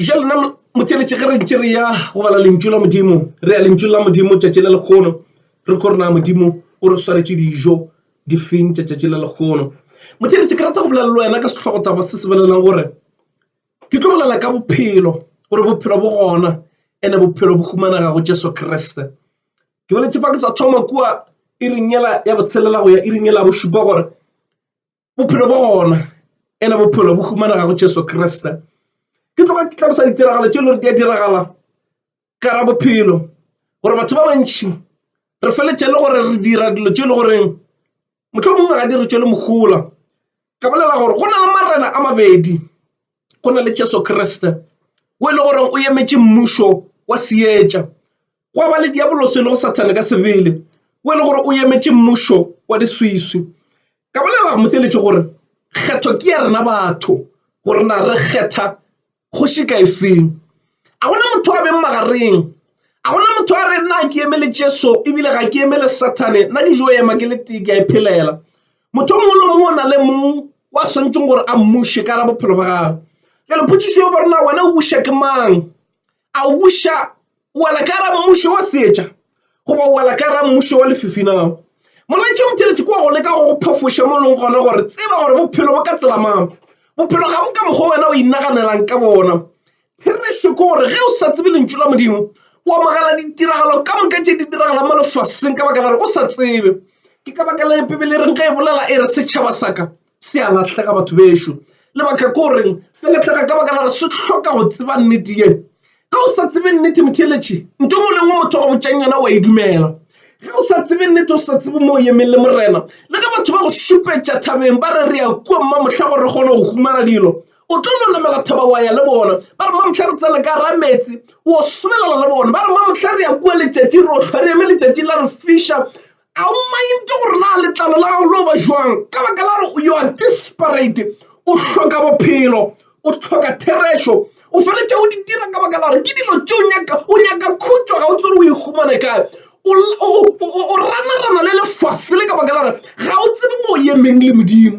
ja lona motsenetše ge re ntše re ya go bala lentšu la modimo re ya lentšu la modimo tšatši la lekgono re kgore na modimo o re swaretše dijo difeng tša tšatši la lekgono motsenetše ke rata go bolela le wena ka sehlogo taba se se belelang gore ke tlo bolela ka bophelo gore bophelo bo gona ene bophelo bo humanega go jesu kriste ke boletše fa ke sa thoma kua e ringela ya botshelela go ya e ringela bošupa gore bophelo bja gona e le bophelo bo humanega go jesu kriste ke tloga ke tlhalosa ditiragalo tše e le gore di a diragala ka ra bophelo gore batho ba bantšhi re feletše le gore re dira dilo tše e le goreng motlho mongwe ga di re tšwele mogola ka bolela gore go na le marena a mabedi go na le Jesu Kriste o e le gore o emetše mmušo wa seetša gwa ba le diaboloso e lego sathane ka sebele o e le gore o emetše mmušo wa diswiswi ka bolela motseletše gore kgetho ke ya rena batho go rena re kgetha kgoši ka efeng a gona motho a beng magareng a gona motho a re nna ke emele jesu ebile ga ke emele sathane nna ke jo ema ke le tee ke a e phelela Motho mongwe le mongwe o na le mong wa swanetšeng gore a mmuše ka ra bophelo ba gagwe jale photsiso yo gore na wena o buša ke mang a o buša o wela ka ra mmušo wa seetša goba o wela ka ra mmušo wa lefifi na molaetša o motheletše kwa go leka go phafoša mo leng gona gore tseba gore bophelo bo ka tsela mang bophelo ga bo ka mokgwa wena o inaganelang ka bona Therešo ke gore ge o sa tsebe lentšu la Modimo o amogela ditiragalo ka moka tše di diragalang mo lefaseng ka baka la gore o sa tsebe ke ka baka le bibele e reng ge e bolela e re setšhaba sa ka se a latlhega batho bešo lebaka ke goreng se latlhega ka baka la gore se hloka go tseba nnete ye ge o sa tsebe nnete motheletše nto ngwe lengwe motho go botšang yona wa e dumela ge o sa tsebe nnete o sa tsebe mo o emeng le morena le ge batho ba go šupetša thabeng ba re re ya kua mma mohla gore re kgone go humana dilo o tlo no namela thaba wa ya le bona ba re mamotlha re tsena ka ra metsi o sobelela le bona ba re mamotlha re ya kua letšatši re otlhwa re eme letšatši la re fiša a o mainte gore na letlalo la gago lo ba jwang ka baka la gore yo a disparate o hloka bophelo o hloka therešo o feletša o di dira ka baka la gore ke dilo tse o nyaka o nyaka khutšo ga o tsere o ihumane kae o ranarana le lefase le ka baka la gore ga o tsebe mo o emeng le modimo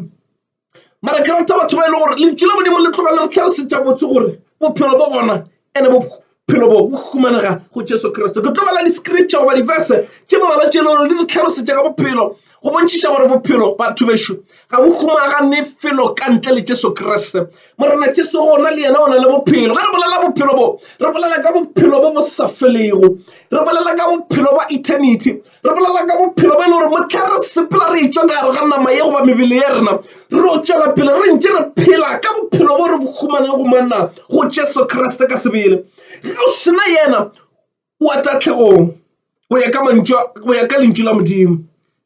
mara ke rata batho ba e le gore lentšu la modimo le tloga le re tlhalosetša botse gore bophelo bo gona ande bophelo bo bo humanega go jesu kriste ke tlo bala di-scripture goba di-verse tše mmala tše e le gore di re tlhalosetša ka bophelo go bontšhiša gore bophelo batho bešo ga bo humagane felo ka ntle le jesu kriste morena jesu gona le yena o na le bophelo ge re bolela bophelo bo re bolela ka bophelo bo bo sa felego re bolela ka bophelo ba eternity re bolelang ka bophelo bo e le gore motlha re sepela re etswa ka gare ga nama ye goba mebele ya rena re o tswela pele re ntse re phela ka bophelo bo re bo humaneng go manna go jesu kriste ka sebele ge o sena yena o a tatlhegong go ya ka mantšu go ya ka lentšu la modimo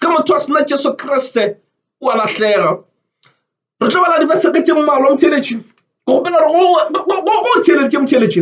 ge motho a sena jesu kriste o a lahlega re tlo bala dibeseke tše mmalwa motheletši go gopela gore go theeleditše motheletši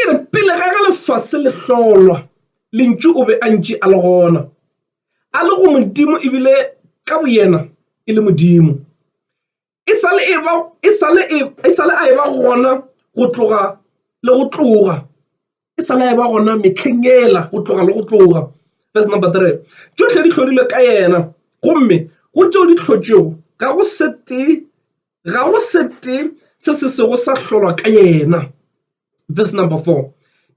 E re pele ga ge lefase le hlolwa, Lentšu o be a ntše a le gona, a le go Modimo e bile ka boyena e le Modimo. E sa le eba, e sa le e, e sa le a eba gona go tloga le go tloga, e sa le a eba gona mehleng yela go tloga le go tloga. Verse number 3, Tšohle di hlodilwe ka yena, gomme go tšeo di hlotšwego ga go se tee ga go sete se se sego sa hlolwa ka yena verse number four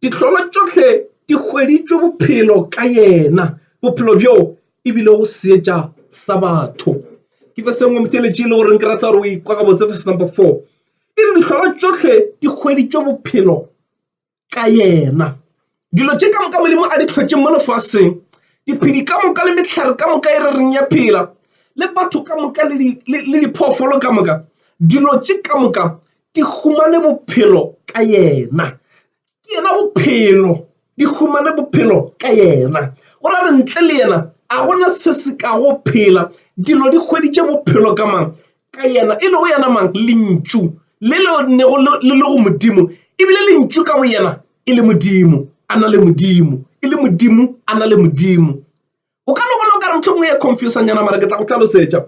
ditlolo tšohle di hweditšwe bophelo ka yena bophelo bjo e bile go seetša sa batho ke fe sengwe motšeletši e le goreng ke rata gore o ikwa gabotse verse number four e re ditlolo tšohle di hweditšwe bophelo ka yena. Dilo tše ka moka Modimo a di tlhotše mo lefaseng, diphedi ka moka le mehlare ka moka e re reng ya phela, le batho ka moka le diphoofolo ka moka, dilo tše ka moka di humane bophelo ka yena. Ke yena bophelo, di humane bophelo ka yena. O ra re ntle le yena a gona se se ka go phela, dilo di hweditše bophelo ka mang? ka yena, e lego yena mang? Lentšu le le nnego le lego Modimo, e bile Lentšu ka boyena e le Modimo, a na le Modimo, e le Modimo, a na le Modimo. O ka no bona o ka re mohlomongwe ya confusanyana mara ke tla go tlhalosetša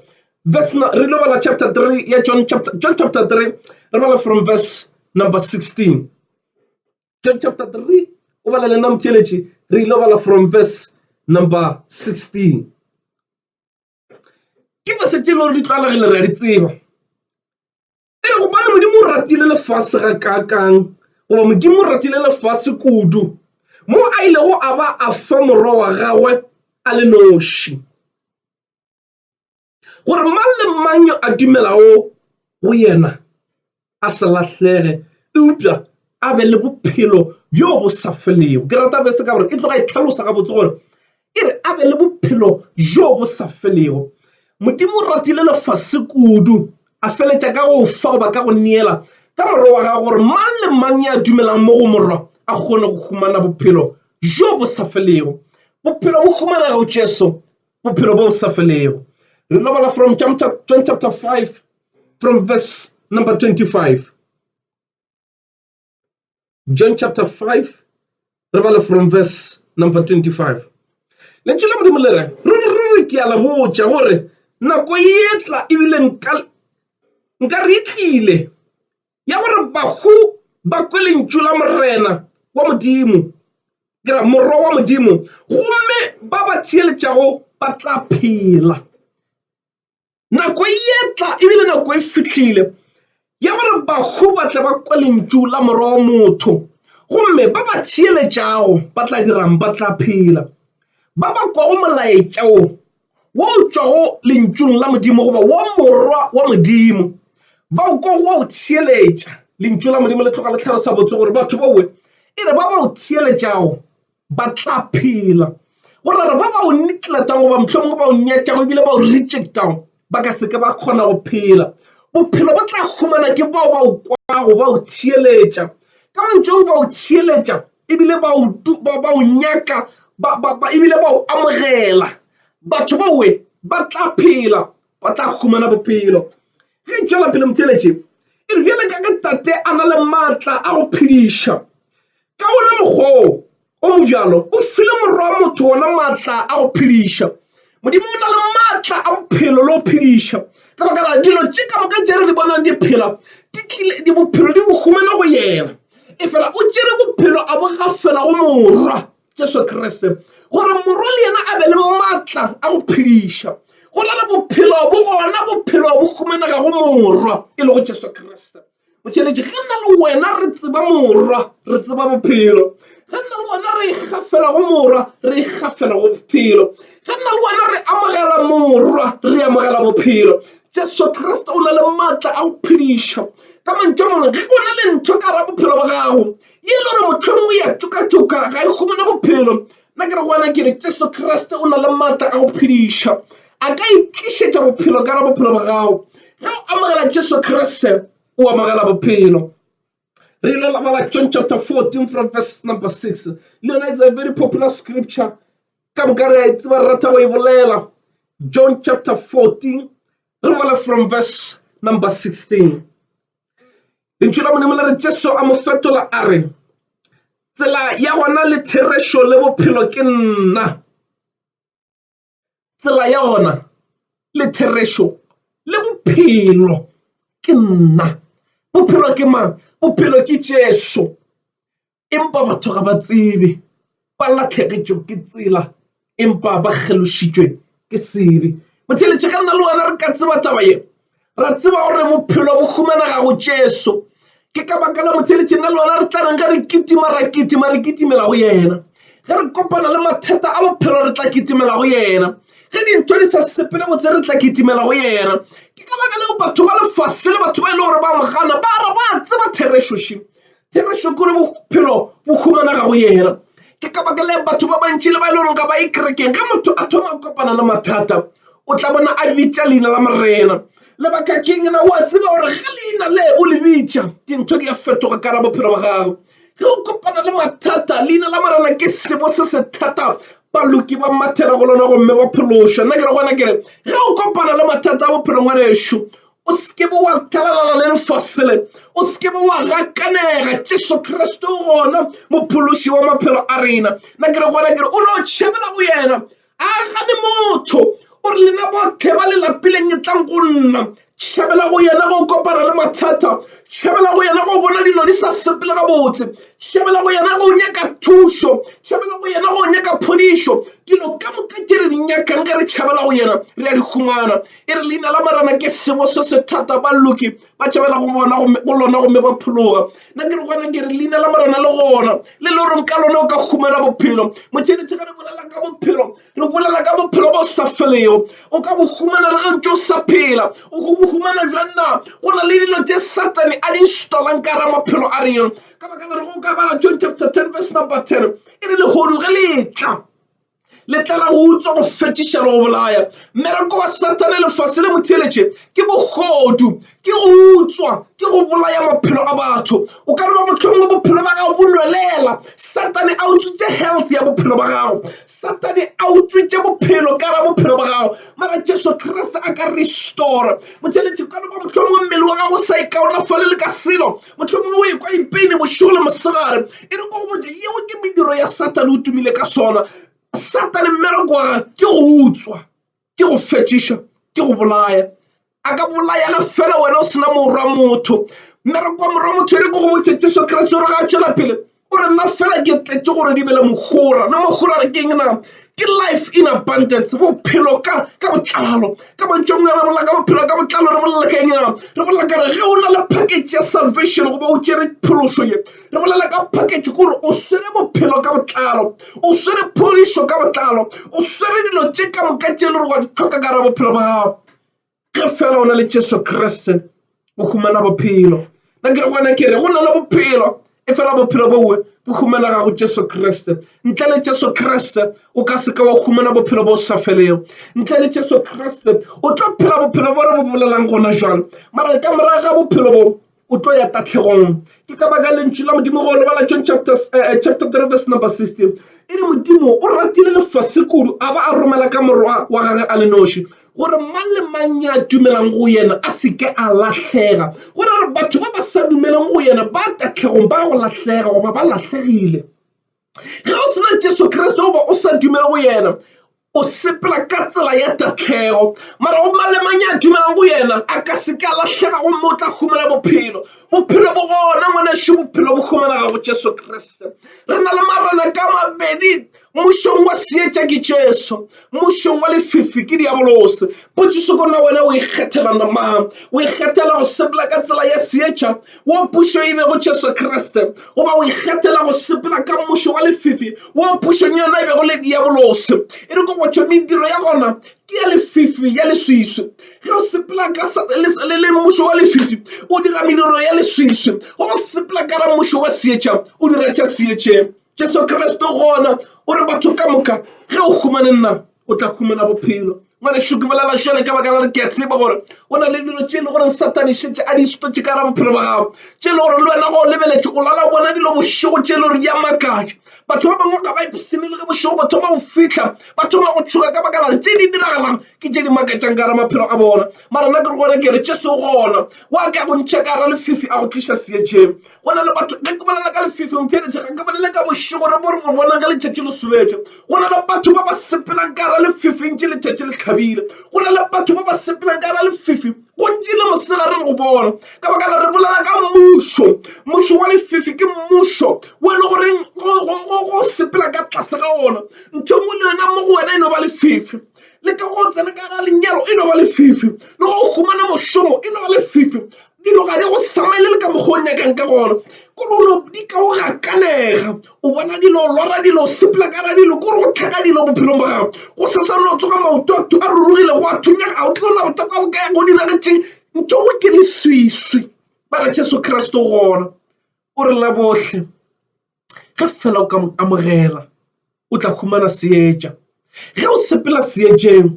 verse re lo bala chapter 3 ya john chapter john chapter 3 re bala from verse number 16 john chapter 3 o bala lena motheletši re lo bala from verse number 16 ke verse tše e le gore di tlwaelegile re a di tseba e re gobane modimo o ratile lefase ga kaakang goba modimo o ratile lefase kudu mo a ilego a ba a fa morwa wa gagwe a le noši gore mang le mang yo a dumelago go yena a se lahlege eupša a be le bophelo bjo bo sa felego ke rata bese ka gore e tloga e tlhalosa gabotse gore e re a be le bophelo bjo bo sa felego modimo o ratile lefase kudu a feletša ka go fa goba ka go neela ka morwa wa gago gore mang le mang ya dumelang mo go morwa a kgone go humana bophelo bjo bo sa felego bophelo bo humanega go jesu bophelo bo sa felego re lobola from john chapter 5 From verse number 25. John chapter 5, re bala from verse number 25. Lentšu la Modimo le re, ruri ke a le botša gore nako e tla ebile nka re tlile ya gore bahu ba kwe lentšu la morena wa modimo ke ra morwa wa modimo gomme ba ba theeletšago ba tla phela Nako e ye tla e bile nako e fihlile ya gore bahu ba tle ba kwe lentšu la Morwa wa motho, gomme ba ba theeletšago ba tla dira'ng? Ba tla phela. Ba ba kwago molaetša wo wo o tšwago Lentšung la Modimo goba wa Morwa wa Modimo ba o kwago wa o theeletša. Lentšu la Modimo le tloga le hlalosa botse gore batho baowe e re ba ba o theeletšago ba tla phela go rara ba ba o netlatang goba mohlomongwe ba o nyatšago ebile ba o rejectago ba ka seke ba kgona go phela bophelo bo tla humana ke bao ba o kwago ba o theeletša ka mantšong ba o theeletša ebile ba o nyaka ebile ba o amogela batho ba we ba tla phela ba tla humana bophelo ge e tšwela pele motheeletše e re bjale ka ge tate a na le maatla a go phediša Ka wona mokgwa wo o mobjalo, o file Morwa wa motho wona maatla a go phediša. Modimo o na le maatla a bophelo le go phediša. Ka baka la dilo tše ka moka tše re di bonang di phela, di tlile, di bophelo di bo humana go yena. Efela o tšere bophelo a bo gafela go Morwa, Jesu Kriste, gore Morwa le yena a be le maatla a go phediša. Go na le bophelo bo gona, bophelo bo humanega go Morwa, e lego Jesu Kriste. o tšweletše ge nna le wena re tseba morwa re tseba bophelo ge nna le wena re ikgafela go morwa re ikgafela go bophelo ge nna le wena re amogela morwa re amogela bophelo jesu kriste o na le maatla a go phediša ka mantša mangwe ge o na le ntho ka ra bophelo ba gago ye e le gore mohlomongwe ya tšokatšoka ga e humane bophelo Nna ke re go wena ke re Jesu Kriste o na le maatla a go phediša. A ka itlišetša bophelo ka ra bophelo ba gago. Ge o amogela Jesu Kriste o amogela bophelo. Re ile la bala John chapter 14 from verse number 6. Le yona it's a very popular scripture. Ka moka re a e tseba rata go e bolela. John chapter 14 re bala from verse number 16. Lentšu la Modimo le re Jesu a mo fetola a re, Tsela ya gona le therešo le bophelo ke nna. Tsela ya gona le therešo le bophelo ke nna. Bophelo ke mang? Bophelo ke Jesu. empa batho ga ba tsebe ba lahlegetšwe ke tsela empa ba kgelošitšwe ke sebe. Botheletše ga nna le wena re ka tseba taba ye ra tseba gore bophelo bo humanega go Jesu ke ka baka la motheletše nna le wena re tla reng ge re kitima ra kitima re kitimela go yena ge re kopana le mathata a bophelo re tla kitimela go yena ge dintho di sa sepele botse re tla kitimela go yena ke ka baka leo batho ba lefase le batho ba e le gore ba mogana ba re ba tseba therešošeng ke re šokore bophelo bo humanega go yena ke ka baka le batho ba bantši le ba e le goreng ga ba e kerekeng ge motho a thoma go kopana le mathata o tla bona a bitša leina la morena lebaka keng na wa tseba gore ge leina le o le bitša dintho di a fetoga ka ra bophelo ba gago ge o kopana le mathata leina la morena ke sebo se se thata baloki ba mathela go lona gomme ba phološwa nna ke re gona kere ge o kopana le mathata a bophelong wa ešo o seke be wa thalalala le lefasele o seke be wa gakanega jesu kriste o gona mophološi wa maphelo a rena na ke re gona kere o no tšhabela go yena a gane motho o re lena botlhe ba lelapileng e tlang go nna tšhabela go yena go kopana le mathata tšhabela go yena go bona dilo di sa sepele gabotse tšhabela go yena go nyaka thušo tšhabela go yena go nyaka phodišo dilo ka moka tše re di nyakang ge re tšhabela go yena re a di humana e re leina la marena ke sebo se se thata balloki ba tšhabela go bona go lona gomme ba phologa nna ke re gona ke re leina la marena le gona le le goreng ka lona o ka humana bophelo motšheletše ga re bolela ka bophelo re bolela ka bophelo bo sa felego o ka bo humana le gantse o sa phela o go bo humana jwang na go na le dilo tse satane a di instalang ka ra maphelo a rena ka baka la re go ka bala john chapter 10 verse number 10 e re legodu ge le tla letlela go utswa go fetiša le go bolaya mmereko wa satane lefase le motheletše ke bogodu ke go utswa ke go bolaya maphelo a batho o ka reba motlhong wa bophelo ba gago bonwelela satane a utswitše health ya bophelo ba gago satane a utswitše bophelo ka ra bophelo ba gago mara jesu kriste a ka restore motheletše ka reba motlhong wa mmele wa gago sa e kaonafale le ka selo Mohlomongwe o ekwa a ipeile bošego le mosegare. E re ko go botša, yeo ke mediro ya Satane o tumile ka sona. Satane mmereko wa gage ke go utswa, ke go fetšiša, ke go bolaya. A ka bolaya ge fela wena o sena morwa motho. Mmereko wa morwa motho e re ko go botša, Jesu Kriste o re ga a tšwela pele, o re nna fela ke tletše gore di be le mogora na mogora re keng na ke life in abundance bophelo ka ka botlalo ka mantšong a re bolela ka bophelo ka botlalo re bolela ka eng re bolela ka re ge o na le package ya salvation goba o tšere phološo ye re bolela ka package ke gore o swere bophelo ka botlalo o swere phodišo ka botlalo o swere dilo tše ka moka tše e le gore wa di tlhoka ka ra bophelo ba gago ge fela o na le jesu kriste o humana bophelo na ke re gona ke re go na le bophelo e fela bophelo bowe bo humanega go jesu kriste ntle le jesu kriste o ka seka wa humana bophelo bo sa felego ntle le jesu kriste o tlo phela bophelo bo re bo bolelang gona jalo mara ka morago ga bophelo bo o tlo ya tahlegong ke ka baka lentšu la modimo go lebala john chapter, uh, chapter 3 verse number 16 e re modimo o ratile lefase kudu a ba a romela ka morwa wa gage a le noši gore mang le mang ya dumelang go yena a se ke a lahlega gore re batho ba ba sa dumeleng go yena ba tahlegong ba go lahlega goba ba lahlegile ge o se na jesu kriste goba o sa dumele go yena o sepela ka tsela ya tatlhego mara go mang le mang ya dumelang go yena a ka se ka lahlega gomme o tla humana bophelo bophelo bo gona ngwaneso bophelo bo humanaga go jesu kriste re na le marena ka mabedi mmušong wa seetša ke jesu mmušong wa lefifi ke diabolose potšiso kona wena o ikgethela namang o ikgethela go sepela ka tsela ya seetša wo pušo e bego Jesu Kriste, goba o ikgethela go sepela ka mmušo wa lefifi wo pušong yona e bego le diabolose. E re ko gotšwa mediro ya gona ke ya lefifi ya leswiswi. Ge o sepela ka le le mmušo wa lefifi o dira mediro ya leswiswi, ge o sepela ka ra mmušo wa seetša o dira tša seetšeng. Jesu Kriste gona o re batho ka moka ge o humane nna o tla humana bophelo ngwanešu ke bolela šale ka baka la re ke a tseba gore go na le dilo tše e le gore satane šetse a di setotše ka gara bophelo ba gago tše e le gore le wena go o lebeletše o lala bona dilo bošego tše e le gore di a makatša batho ba bangwe ga ba ipshine le ge bošego ba thoma go fitlha ba thoma go tšhoga ka baka lare tše di diragalang ke tše di makatšang ka gara maphelo a bona mara nna ke re gona ke re tše se gona wa ka go ntšha ka gara lefifi a go tliša seetšeng go na le batho ge ke bolela ka lefefeng theletše ga ke bolele ka bošego re bo re bo bonang ge letšatši le sobetše go na le batho ba ba sepelang ka gara lefefeng tše letšatši le tlhabile go na le batho ba ba sepelang ka gara lefefe gontši le mosegare le go bona ka baka la re bolela ka mmušo mmušo wa lefefe ke mmušo wo e le goreng go sepela ka tlase ga ona ntho engwe le yona mo go wena e no ba lefefe le ka go tsena ka gara lenyalo e no ba lefefe le go humana mošomo e no ba lefefe Dilo ga di go samelele ka mokgwa o nyakang ka gona kore o no di ka o gakanega o bona dilo lora dilo sepela ka ra dilo kore go tlhaga dilo bophelong ba gago go sesa no tsoga maoto a a rurugile go a thunyega ga o tlo na bothata bo kaya go diragetšeng ntho go ke leswiswi ba re jesu kreste o gona o re la botlhe ge fela o ka mo amogela o tla humana seetša. Ge o sepela seetšeng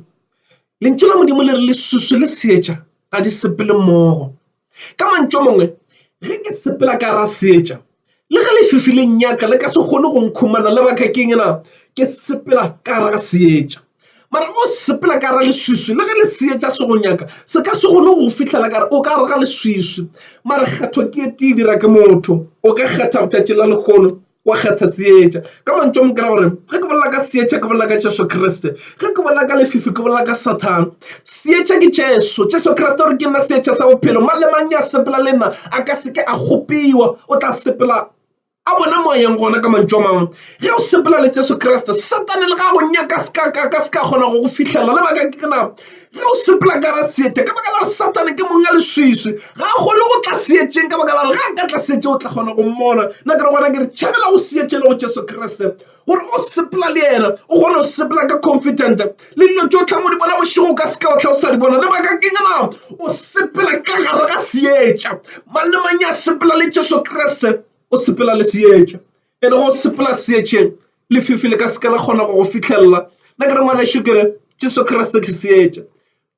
lentšu la Modimo le re lesusu le seetša ga di sepele mmogo. Ka mantšu a mangwe ge ke sepela ka ra seetša le ge lefifi le nnyaka le ka se kgone go nkhumana lebaka keng na ke sepela ka ra seetša. Mara o sepela ka ra leswiswi, le ge lesea tša se go nyaka, se ka se gone go fihlela ka re o ka re ga leswiswi. Mara kgetho ke e tee dira ke motho. O ka kgetha botšatši la lehono, wa kgetha seetša. Ka mantšu a mo kera gore ge ke bolela ka seetša ke bolela ka Jesu Kriste, ge ke bolela ka lefifi ke bolela ka Sathane. Seetša ke Jesu, Jesu Kriste o re ke nna seetša sa bophelo, mang le mang ya sepela le nna a ka se ke a kgopiwa, o tla sepela. a bona moyeng gona ka mantšu a mangwe ge o sepela le jesu kriste satane le ga go nyaka ka se ka kgona go go fitlhelela le baka ke na ge o sepela ka ra seetša ka baka la re satane ke mong a leswiswi ga a kgone go tla seetšeng ka baka la re ga a ka tla seetše o tla kgona go mmona nna ke re gona ke re tšhabela go seetše le go jesu kriste gore o sepela le yena o kgone go sepela ka confident le dilo tso tlhang o di bona bošego ka seka o tlha o sa di bona lebaka ke ngana o sepela ka gare ga seetša mang le mang ya sepela le jesu kriste o sepela le seetša e le go sepela seetšeng lefifi le ka seka la kgona go go fitlhelela nna ke re ngwana šukere jesu kriste ke seetša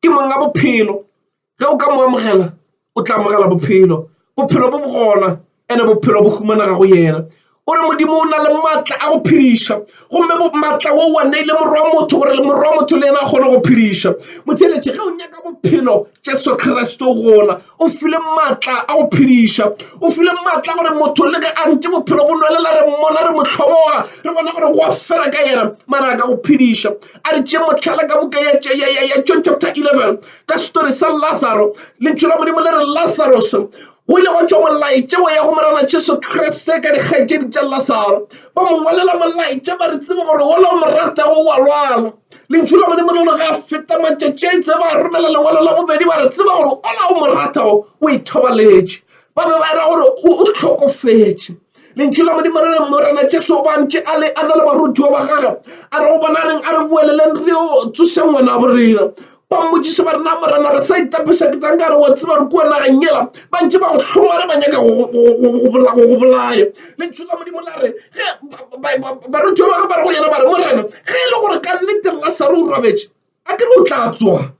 ke mong a bophelo ge o ka mo amogela o tla amogela bophelo bophelo bo bogona ene bophelo bo humanega go yena o re modimo o na le maatla a go phediša gomme maatla wo wa neile morwa wa motho gore le morwa wa motho le yena a kgone go phediša motheletše ge o nyaka bophelo jesu kriste gona o file maatla a go phediša o file maatla gore motho le ge a ntše bophelo bo nwelela re mmona re motlhoboga re bona gore go a fela ka yena mara a ka go phediša a re tšee motlhala ka buka ya john chapter 11 ka setori sa lasaro lentšu la modimo le re lasaros go ile go tšwa molaetša wa ya go morena jesu kriste ka dikgaetšedi tša lasaro ba mo ngwalela molaetša ba re tsebe gore ola o moratago wa lwala lentšu la modimo le ga feta matšatši a itse ba romela lengwalo la bobedi ba re tseba gore ola o moratago o ithobaletše ba be ba era gore o hlokofetše lentšu la modimo re reng morena jesu o bantše a le a na le barutiwa ba gage a re go bona reng a re boeleleng re yo tsoša ngwana bo rena ba mmotsiša ba rena morena re sa itapiša ke tsanka re wa tseba re kua nageng yela ba ntše ba go hlomare ba nyaka go bolaya lentšu la modimo la re ge barutiwa ba ge ba re go yena ba re morena ge e le gore ka nnete lasare o robetše a ke re o tla tsoga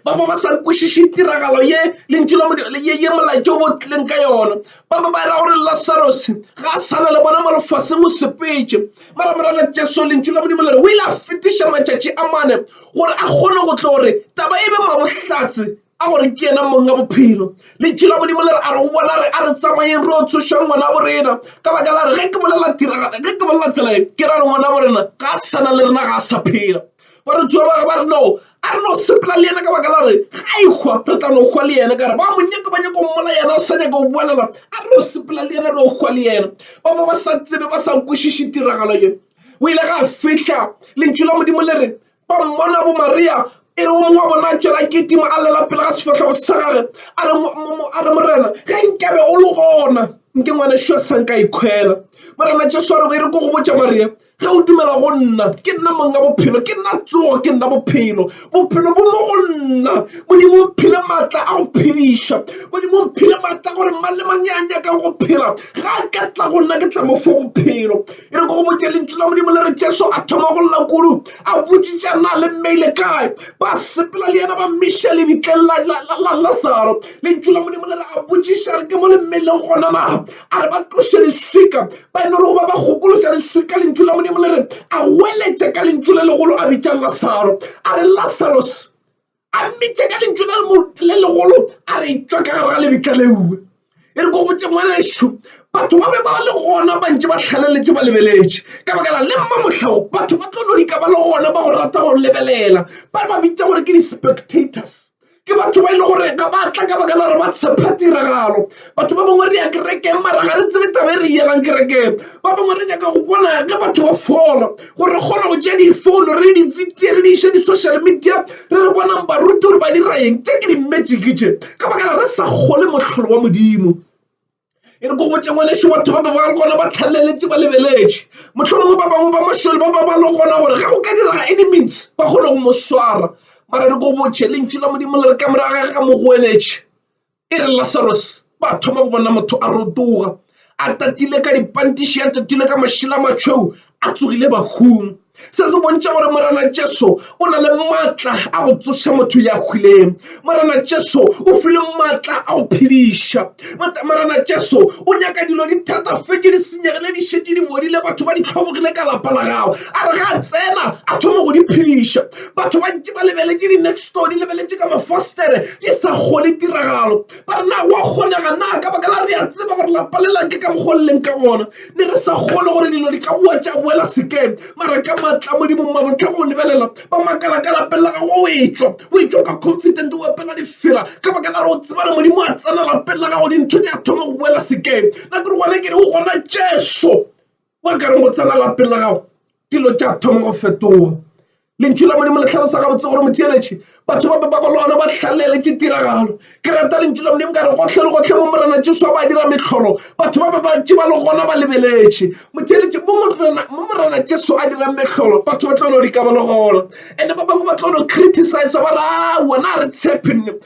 ba ba ba sa kwešiše tiragalo ye lentšu la modimo ye ye molaetša o bo tlileng ka yona ba ba ba era gore lasaros ga a sana le bona mo lefaseng o sepetše mara morana jesu lentšu la modimo le re o ile a fetiša matšatši a mane gore a kgone go tlo gore taba e be mabohlatse a gore ke yena mong ya bophelo lentšu la modimo le re a re go bona re a re tsamayeng re o tsošang ngwana borena ka baka la re ge ke bolela tiragalo ge ke bolela tsela e ke ra re ngwana borena ga a sana le rena ga a sa phela Barutiwa ba gagwe ba re, No, a re no sepela le yena ka baka la gore ga a ikgwa re tla no kgwa le yena ka gore ba mo nyaka ba nyako mmola yena o sa nyaka go boalela a re no sepela le yena no kgwa le yena ba ba ba sa tsebe ba sa kwešiše tiragalo ye o ile ga fihla lentšu la modimo le re ba mmona bo maria e re o mongwe wa bona a tšwela ketima a lela pele ga sefatlhego sa gage a re morena ge nkabe o le gona nke ngwana šo sa nka ikgwela morena jesu a re e re ko go botša maria ge o dumela go nna ke nna mong ka bophelo ke nna tsogo ke nna bophelo bophelo bo mo go nna modimo o phile maatla a go phediša modimo o phile maatla gore mang le mang ya nyaka go phela ga a ka tla go nna ke tla mo fo bophelo e re ko go botša lentšu la modimo le re jesu a thoma go lla kudu a botsitša na le mmeile kae ba sepela le yena ba mmiša lebitleng la lasaro lentšu la modimo le re a botsiša re ke mo le mmeileng gona na a re ba tloše leswika ba e le gore ba ba gokološa re swe ka lentšu la modimo le re a weletše ka lentšu le legolo a bitša lasaro a re lasaros a mmitše ka lentšu le legolo a re tšwa ka gare ga lebitla leue e re ko botse ngwanešu batho ba be ba le gona ba ntše ba tlhaleletše ba lebeletše ka baka la le mma motlhago batho ba tlo no dika ba le gona ba go rata go lebelela ba re ba bitša gore ke di-spectators ke batho ba e le gore ga ba tla ka baka la gore ba tshepa tiragalo batho ba bangwe re ya kerekeng mara ga re tsebe taba e re yelang kerekeng ba bangwe re nyaka go bona ge batho ba fola gore re kgona go tšea difouno re di fitse re di iše di-social media re re bonang baruti gore ba dira eng tše ke di-magic tše ka baka la re sa kgole mohlolo wa modimo e re ko botse ngwaneso batho ba bangwe gona ba tlhaleletse ba lebeletse motlholongwe ba bangwe ba mošole ba ba ba le gona gore ge go ka direga any means ba kgone go mo swara mara re ko botšhe lentši la modimo le re ka moraga ga mo goeletše e re lasaros ba thoma go bona motho a rotoga a tatile ka dipantiši a tatile ka mašela matšhweu a tsogile bahung Se se bontšha gore Morena Jesu o na le maatla a go tsoša motho ya hwileng. Morena Jesu o file maatla a go phediša. Morena Jesu o nyaka dilo di thatafetše di senyegile di šetše di bodile batho ba di tlhobogile ka lapa la gago a re ga a tsena a thoma go di phediša. Batho ba ntše ba lebeletše di-next door di lebeletše ka mafostere di sa kgone tiragalo ba re na wa kgonega na ka baka la re a tseba gore lapa le lake ka mokgwa o leng ka gona ne re sa kgolwe gore dilo di ka boa tša boela sekeng mara ka matla modimo mmabotlhang o lebelela ba makala ka lapeng la gago o etswa o etswa ka confident o epela difela ka baka la re o tsebare modimo a tsena lapeng la gago dintho di a thoma go boela sekeng na kore gona ke re o gona jesu wa ka re mo tsena lapeng la gago dilo tša thoma go fetoga lentšu la modimo le tlhalosa gabotse gore motheeletše batho ba pepa golona ba tlhaleletše tiragalo ke rata lentšu la modimo ka re gotlhe le gotlhe mo morena jesu ba dira metlholo batho ba bebantši ba le gona ba lebeletše motheeletše mo morena jesu a dirang metlholo batho ba tlo no dikaba le gona and-e ba bangwe ba tlo no criticize ba re a wona a re tshepe nne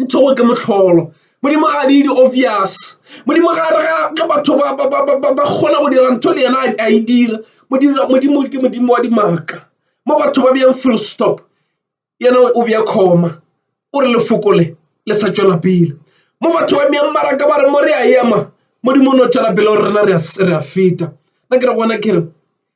Nthogo ke motlholo. Modimo ga di di obvious. Modimo ga re ga batho ba ba ba ba ba kgona go dira ntho le yena a e dira. Modimo modimo ke modimo wa dimaka. Mo batho ba beyang full stop yena o beya comma o re lefoko le le sa tšwela pele. Mo batho ba beyang maraka ba re mo re a ema modimo o no tšwela pele o re rena re a feta. Nna ke re gona ke re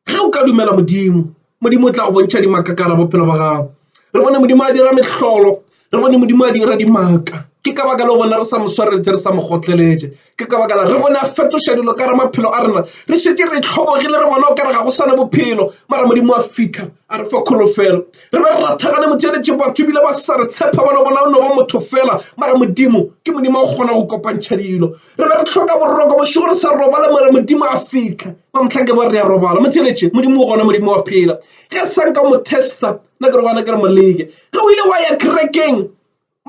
Ge o ka dumela Modimo, Modimo o tla go bontšha dimaka ka gare bophelo ba gago. Re bone Modimo a dira mehlolo, re bone Modimo a dira dimaka. Ke ka baka leo bona re sa mo swareletše, re sa mo kgotleletše. Ke ka baka la re bone a fetoša dilo ka re maphelo a rena. Re šetše re tlhobogile, re bona o ka re ga go sana bophelo, mara Modimo a fitlha a re fa kholofelo. Re be re rathagane motšeletše, batho ebile ba sa re tshepa, ba no bona o no ba motho fela, mara Modimo ke Modimo a go kgona go kopantšha dilo. re be re tlhoka boroko bošego re sa robala mare modimo a fitlha ba motlha ke ba re ya robala mo theletše modimo o gona modimo wa phela ge sang ka mo testa nna ke re gona ke re moleke ge o ile wa ya kerekeng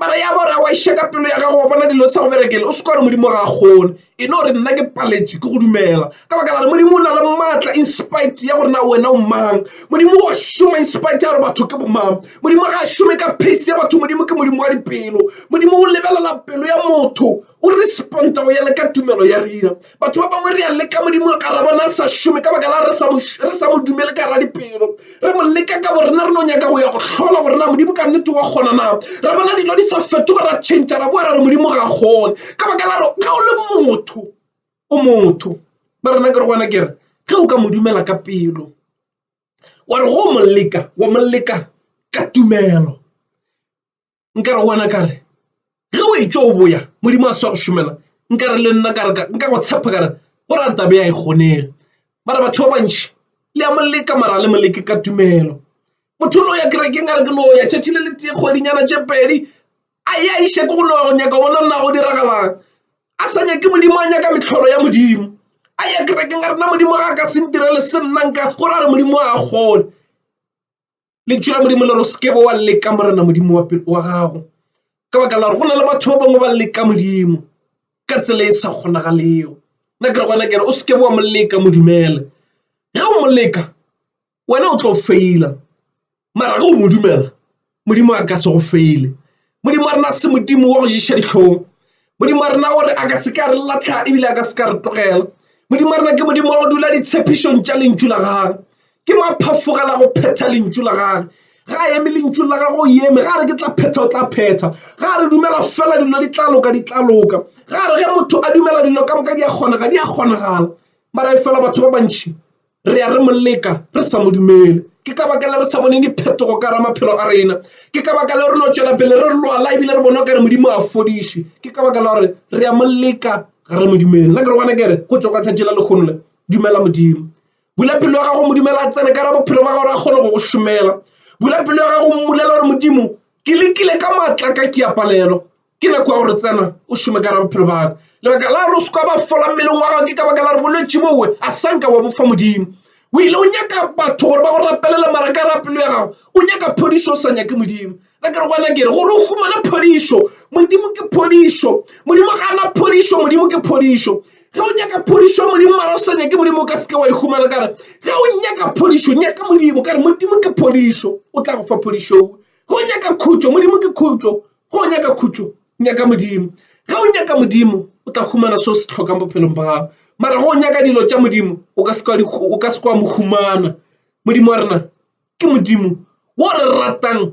mara ya ba re wa iša ka pelo ya gago wa bona dilo sa go berekele o se ka gore modimo ga a kgone e no re nna ke paletše ke go dumela ka baka la re modimo o na le maatla in spite ya gore na wena o mang modimo wa šoma in spite ya gore batho ke bomang modimo ga a šome ka pace ya batho modimo ke modimo wa dipelo modimo o lebelela pelo ya motho O re sponta go ya le ka tumelo ya rena. Batho ba bangwe re a leka Modimo ka ra bona a sa šome ka baka la re sa mo dumele ka ra dipelo. Re mo leka ka bo rena re no nyaka go ya go hlola gore na Modimo ka nnete wa kgona na. Ra bona dilo di sa fetoga ra tšhentšha ra boa ra re Modimo ga kgone ka baka la re ga o le motho o motho. Ba rena ke re gona ke re ge o ka mo dumela ka pelo wa re go mo leka wa mo leka ka tumelo. nkare go wena kare ge o e tšo o boya modimo a sa go šomela nkare le nna kare nka go tshepa kare go ra tabe ya e kgonega mara batho ba bantši le ya moleka mara le moleke ka tumelo motho o no ya kerekeng a re ke no ya tšatši le le tee kgwedinyana tše pedi a e a iša ke go no go nyaka bona nna go diragalang a sa nyake modimo a nyaka metlholo ya modimo a ya kerekeng a rena modimo ga a ka se ntirele se nnanka go ra re modimo a kgole Lentšu la Modimo le re o se ke wa leka Morena Modimo wa gago ka baka la gore go na le batho ba bangwe ba leka Modimo ka tsela e sa kgonagalego nna ke re gona kere o se ke wa mo leka modumele ge o mo leka wena o tlo feila mara ge o mo dumela Modimo a ka se go feile modimo wa rena se modimo wa go ješa dihlong modimo wa rena gore a ka se ka re latlha ebile a ka se ka re tlogela modimo wa rena ke modimo wa go dula ditshepišong tša lentšu la gage ke maphafogela go phetha lentšu la gage ga a eme lentšu la gago o eme ga re ke tla phetha o tla phetha ga re dumela fela dilo di tla loka di tla loka ga re ge motho a dumela dilo ka moka di a kgonega di a kgonagala mara e fela batho ba bantšhi Re ya re mo leka re sa mo dumele. Ke ka baka le re sa boneng diphetogo ka ra maphelo a rena. Ke ka baka le re no tšwela pele re lwala ebile re bona o ka re Modimo a fodiše. Ke ka baka la gore re ya mo leka ga re mo dumele. La ke re gona kere go tšwa ka tšatši la lekgono le dumela Modimo. Bula pelo ya gago modumela a tsene ka ra bophelo ba gago re a kgone go go šomela. Bula pelo ya gago mmulela gore Modimo ke lekile ka maatla ka ke a palelwa. ke nako ya gore tsena o šome ka ra bophelo baka lebaka la gore o seka ba fola mmeleng wa gago ke ka baka la gore bolwetse bowe a sanka wa bofa modimo o ile o nyaka batho gore ba go rapelela mara ka rapelo ya gago o nyaka phodišo o sa nyake modimo na ke re gona kere gore o fumane phodišo modimo ke phodišo modimo ga ana phodišo modimo ke phodišo ge o nyaka phodišo modimo mara o sa nyake modimo o ka seke wa e humana kare ge o nyaka phodišo nyaka modimo kare modimo ke phodišo o tla go fa phodišo ge o nyaka khutšo modimo ke khutšo go o nyaka khutšo nyaka modimo ge o nyaka modimo o tla humana seo se tlhokang bophelong ba gago mara go o nyaka dilo tša modimo o ka se kwa mo humana modimo wa rena ke modimo wo re ratang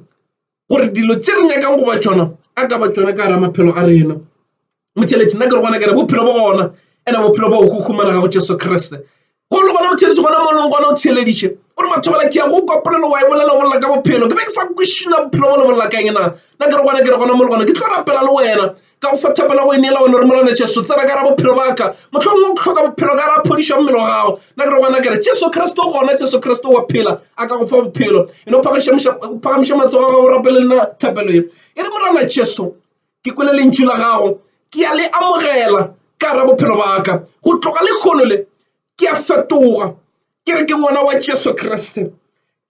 gore dilo tše re nyakang goba tšona a ka ba tšona ka gara maphelo a rena motheletši nna ke re gona kere bophelo bo gona ena bophelo bo go humanega go jesu kriste go le gona motheletši gona mo leng gona o theleditše o re batho bala ke ya go kopolelo wa e bolela o bolela ka bophelo ke be ke sa kwešina bophelo bo le bolela ka engena nna ke re gona ke re gona mo le gona ke tlo rapela le wena ka go fathapela go e neela one re molwana jesu tsena ka ra bophelo baka motlhong o tlhoka bophelo ka ra phodišwa mmele wa gago nna ke re gona kere jesu kriste o gona jesu kriste wa phela a ka go fa bophelo e no phagamiša matsogo ga go rapele nna thapelo e e re morana jesu ke kwele lentšu la gago ke a le amogela ka ra bophelo ba ka go tloga le kgono le ke a fetoga ke re ke ngwana wa Jesu Kriste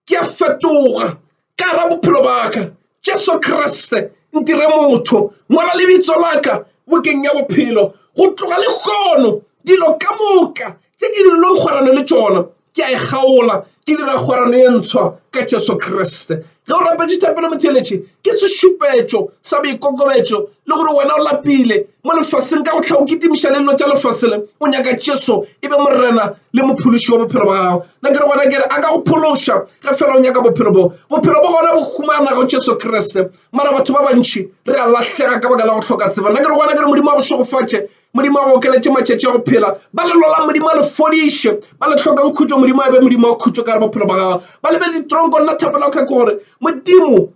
ke a fetoga ka ra bophelo ba ka Jesu Kriste ntire motho ngwana lebitso la ka bokeng ya bophelo go tloga le kgono dilo ka moka tše ke di longkgorane le tšona Ke a e kgaola, ke dira kgwerano ye ntshwa ka Jesu Kriste. Ge o rapetše thapelo motheeletše, ke sešupetšo sa boikokobetšo le gore wena o lapile mo lefaseng ka go tlha o kitimiša le dilo tša lefase le, o nyaka Jesu e be Morena le Mophološi wa bophelo bja gago. Na ke re gona ke re a ka go phološa ge feela o nyaka bophelo boo. Bophelo bo gona bo humana go Jesu Kriste. Mara batho ba bantši re a lahlega ka baka la go hloka tsebo. Na ke re gona ke re Modimo a go šegofatše Modimo a go okeletše matšatši a go phela. Ba lelo la Modimo a le fodiše. Ba le hlokang khutšo, Modimo a be Modimo wa khutšo ka gare bophelo ba gago. Ba lebe ditronko, nna thapelo ka gore Modimo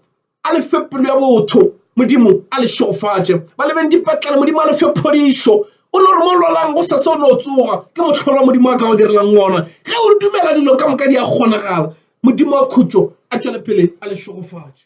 a le fe pelo ya botho, Modimo a le šofatše. Ba lebeng dipetlele, Modimo a le fe phodišo. O no re mo lwalang go sese o no tsoga ke mohlolo wa Modimo a ka go direlang wona. Ge o dumela dilo ka moka di a kgonagala. Modimo wa khutšo a tšwele pele a le šogofatše.